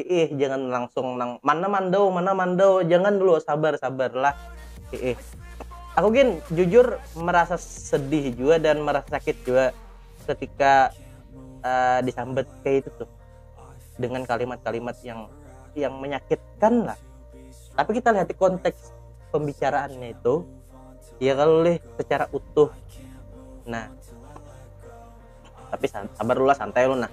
Hiih jangan langsung nang mana mandau mana mandau jangan dulu sabar sabar lah hiih aku gin jujur merasa sedih juga dan merasa sakit juga ketika uh, disambat kayak itu tuh dengan kalimat-kalimat yang yang menyakitkan lah tapi kita lihat konteks pembicaraannya itu ya kalau leh secara utuh nah tapi sabar lu lah santai lu nah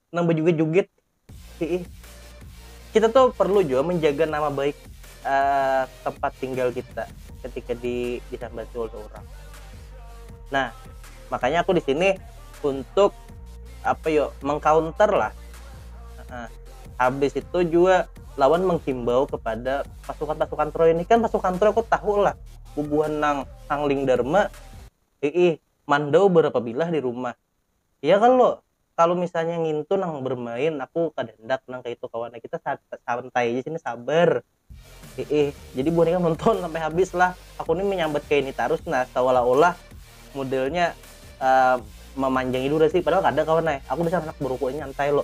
nang bejugit-jugit hiih kita tuh perlu juga menjaga nama baik uh, tempat tinggal kita ketika di disambati oleh orang nah makanya aku di sini untuk apa yo mengcounter lah uh, habis itu juga lawan menghimbau kepada pasukan-pasukan Troy ini kan pasukan Troy aku tahu lah bubuhan nang Hangling Dharma ii mandau berapa bilah di rumah Iya kalo, kalo misalnya ngintu nang bermain aku kada handak nang kaya itu kawan, kita santai ja sini sabar, hiih jadi buhan ikam nonton sampai habis lah, aku ni menyambat kaya ini tarus nah seolah-olah modelnya memanjangi durasi padahal kada kawan ai, aku dasar handak berukuk nyantai lo.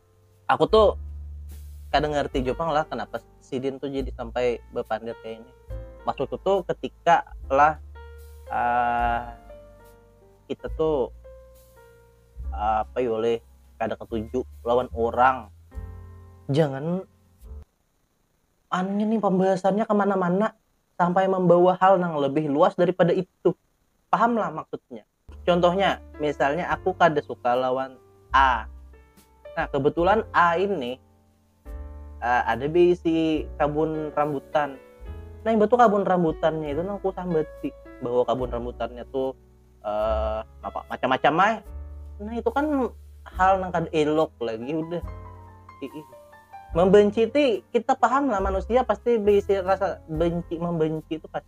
aku tuh kada ngerti juga lah kenapa sidin tuh jadi sampai berpandir kayak ini maksudku tuh ketika lah uh, kita tuh uh, apa ya oleh kada ketuju lawan orang jangan aneh nih pembahasannya kemana-mana sampai membawa hal yang lebih luas daripada itu paham lah maksudnya contohnya misalnya aku kada suka lawan A nah kebetulan A ini uh, ada bisi kabun rambutan nah yang betul kabun rambutannya itu nang aku sambati bahwa kabun rambutannya tuh uh, apa macam-macam mah nah itu kan hal nang kada elok lagi udah membenci ti kita paham lah manusia pasti bisi rasa benci membenci itu pasti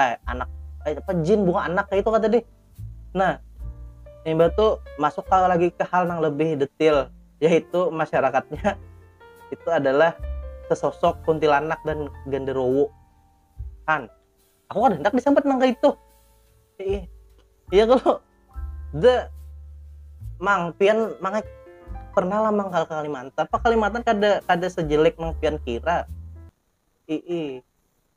eh anak eh, apa jin bukan anak kayak itu kata deh nah ini batu masuk kalau lagi ke hal yang lebih detail yaitu masyarakatnya itu adalah sesosok kuntilanak dan genderowo kan aku kan hendak disambat nang itu iya, iya kalau the mang pian mang pernah lah mang ke Kalimantan apa Kalimantan kada kada sejelek mang pian kira ii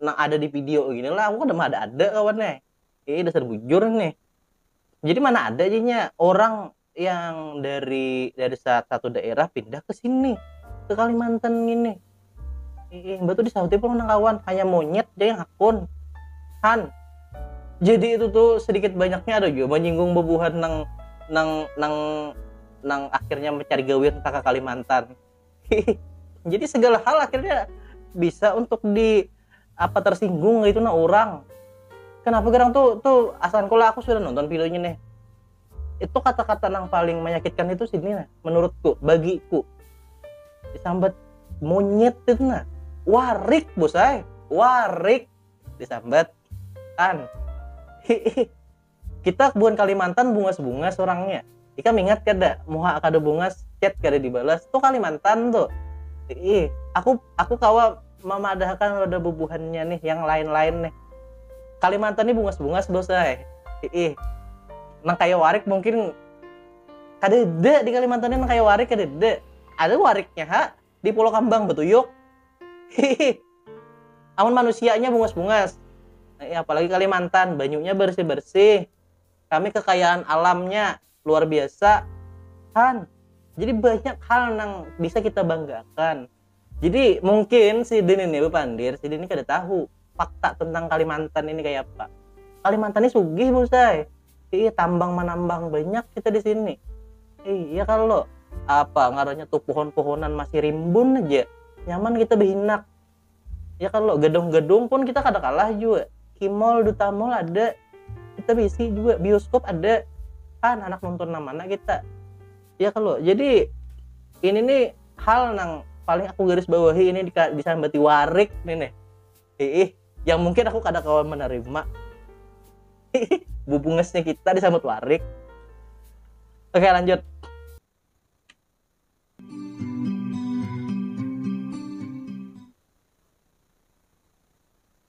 nang ada di video gini lah aku kada ada ada kawan nih eh dasar bujur nih jadi mana ada jadinya orang yang dari dari satu daerah pindah ke sini ke Kalimantan gini eh batu disauti pun nang kawan hanya monyet jadi hakun han jadi itu tuh sedikit banyaknya ada juga menyinggung bebuhan nang nang nang nang akhirnya mencari gawe entah ke Kalimantan jadi segala hal akhirnya bisa untuk di apa tersinggung gitu nah orang kenapa gerang tuh tuh asan kalau aku sudah nonton videonya nih itu kata-kata yang paling menyakitkan itu sini nah menurutku bagiku disambat monyet itu nah warik bosai warik disambat kan kita buan Kalimantan bungas-bungas orangnya ikam ingat kada muha kada bungas chat kada dibalas tuh Kalimantan tuh ih aku aku kawa memadahkan roda bubuhannya nih yang lain-lain nih Kalimantan nih bungas-bungas bos ay ih nang kaya warik mungkin kada ada di Kalimantan ini nang kaya warik kada ada ada wariknya ha di Pulau Kambang betuyuk hihi amun manusianya bungas-bungas eh, apalagi Kalimantan banyunya bersih-bersih kami kekayaan alamnya luar biasa kan jadi banyak hal yang bisa kita banggakan jadi mungkin si Din ini Pandir si Din ini kada tahu fakta tentang Kalimantan ini kayak apa. Kalimantan ini sugih busai. Iya tambang manambang banyak kita di sini. Iya kalau apa ngarannya tuh pohon-pohonan masih rimbun aja. Nyaman kita behinak. Ya kalau gedung-gedung pun kita kada kalah juga. Kimol, duta mall ada. Kita bisi juga bioskop ada. Kan anak nonton nang mana kita? ya kalau jadi ini nih hal nang paling aku garis bawahi ini disambati warik nih nih ih yang mungkin aku kada kawan menerima bubungesnya kita disambut warik oke lanjut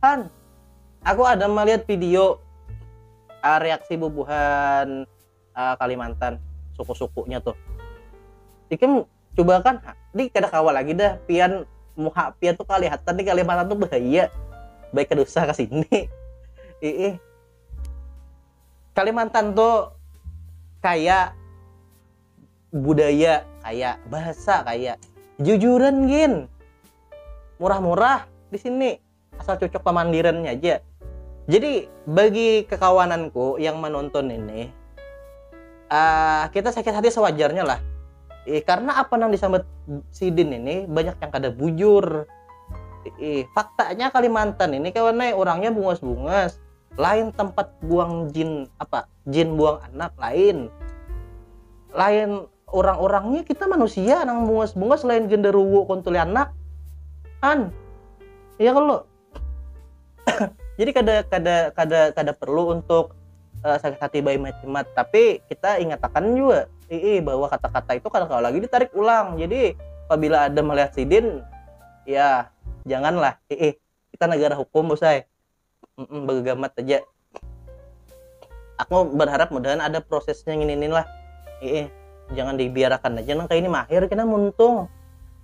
Han, aku ada melihat video uh, reaksi bubuhan uh, Kalimantan, suku-sukunya tuh. Ikem coba kan, ini kada kawa lagi dah, pian muha pian tuh kelihatan di Kalimantan tuh bahaya. Baik kada usah ke sini. Ih, Kalimantan tuh kayak budaya kaya bahasa kaya jujuran gin murah-murah di sini asal cocok pamandirannya aja jadi bagi kekawananku yang menonton ini uh, kita sakit hati sewajarnya lah eh, karena apa yang disambat sidin ini banyak yang kada bujur eh, faktanya Kalimantan ini kawannya orangnya bungas-bungas lain tempat buang jin apa jin buang anak lain lain orang-orangnya kita manusia nang bungas-bungas lain genderuwo kuntuli anak kan iya kan lo jadi kada kada kada kada perlu untuk uh, sakit hati bayi macimat tapi kita ingatakan juga ii bahwa kata-kata itu kalau lagi ditarik ulang jadi apabila ada melihat sidin ya janganlah ii kita negara hukum bosai begegamat aja aku berharap mudahan ada prosesnya ini ini lah ih jangan dibiarkan aja nang kayak ini mahir kena muntung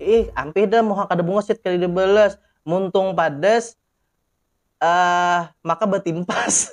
ih ampih dah muha kada bungasit kali dibalas muntung padas uh, maka batimpas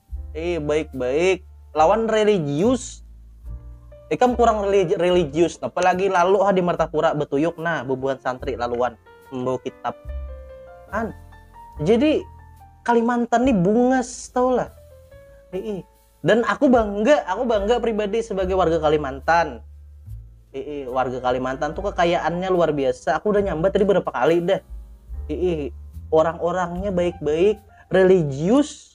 eh baik-baik lawan religius ikam kurang religius apalagi lalu ha di Martapura betuyuk nah bubuhan santri laluan membawa kitab an jadi Kalimantan nih bungas tau lah Ii. dan aku bangga aku bangga pribadi sebagai warga Kalimantan Ii. warga Kalimantan tuh kekayaannya luar biasa aku udah nyambat tadi berapa kali dah Ii. orang-orangnya baik-baik religius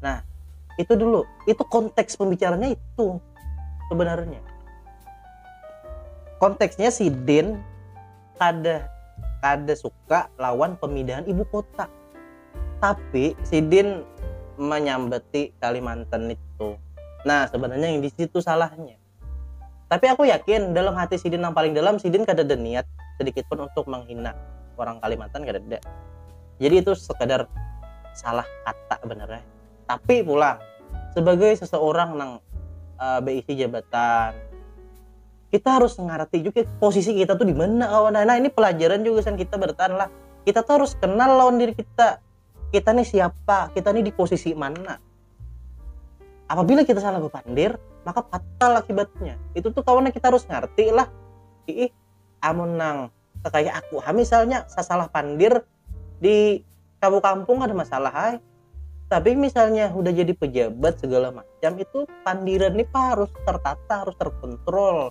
nah itu dulu itu konteks pembicaranya itu sebenarnya konteksnya si Den kada kada suka lawan pemindahan ibu kota tapi si Den menyambeti Kalimantan itu nah sebenarnya yang di situ salahnya Tapi aku yakin dalam hati sidin nang paling dalam sidin kadada niat sedikit pun untuk menghina orang Kalimantan kadada. Jadi itu sekadar salah kata benernya. Tapi pulang sebagai seseorang nang uh, beisi jabatan kita harus ngerti juga posisi kita tuh di mana kawan nah ini pelajaran juga kan kita bertahan lah kita tuh harus kenal lawan diri kita kita nih siapa kita nih di posisi mana apabila kita salah bepandir maka fatal akibatnya itu tuh kawannya kita harus ngerti lah ih amun nang kayak aku ha misalnya sasalah pandir di kampung-kampung ada masalah hai tapi misalnya udah jadi pejabat segala macam itu pandiran nih harus tertata harus terkontrol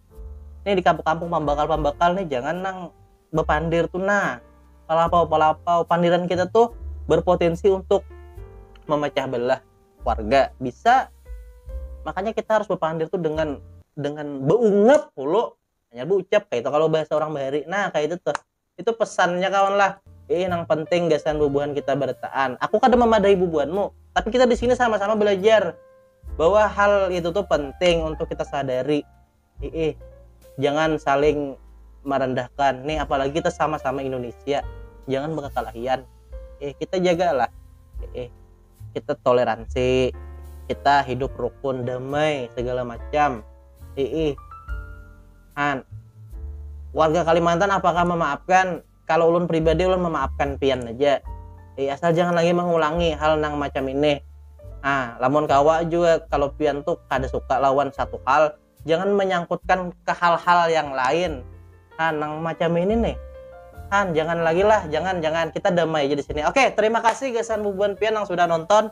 nih di kampung-kampung pambakal-pambakal nih jangan nang bepandir tuh nah palapau palapau pandiran kita tuh berpotensi untuk memecah belah warga bisa makanya kita harus berpandir tuh dengan dengan beungap hulu hanya berucap kayak itu kalau bahasa orang bahari nah kayak itu tuh itu pesannya kawan lah eh yang penting gasan bubuhan kita bertahan aku kada memadai bubuhanmu tapi kita di sini sama-sama belajar bahwa hal itu tuh penting untuk kita sadari eh jangan saling merendahkan nih apalagi kita sama-sama Indonesia jangan berkelahian eh kita jagalah eh kita toleransi kita hidup rukun damai segala macam eh, eh Han. Warga Kalimantan apakah memaafkan? Kalau ulun pribadi ulun memaafkan pian aja. Ih, asal jangan lagi mengulangi hal nang macam ini. Ah, lamun kawa jua kalau pian tu kada suka lawan satu hal, jangan menyangkutkan ke hal-hal yang lain. Han, nang macam ini nih. Han, jangan lagi lah, jangan, jangan. Kita damai aja di sini. Oke, terima kasih gasan bubuhan pian yang sudah nonton.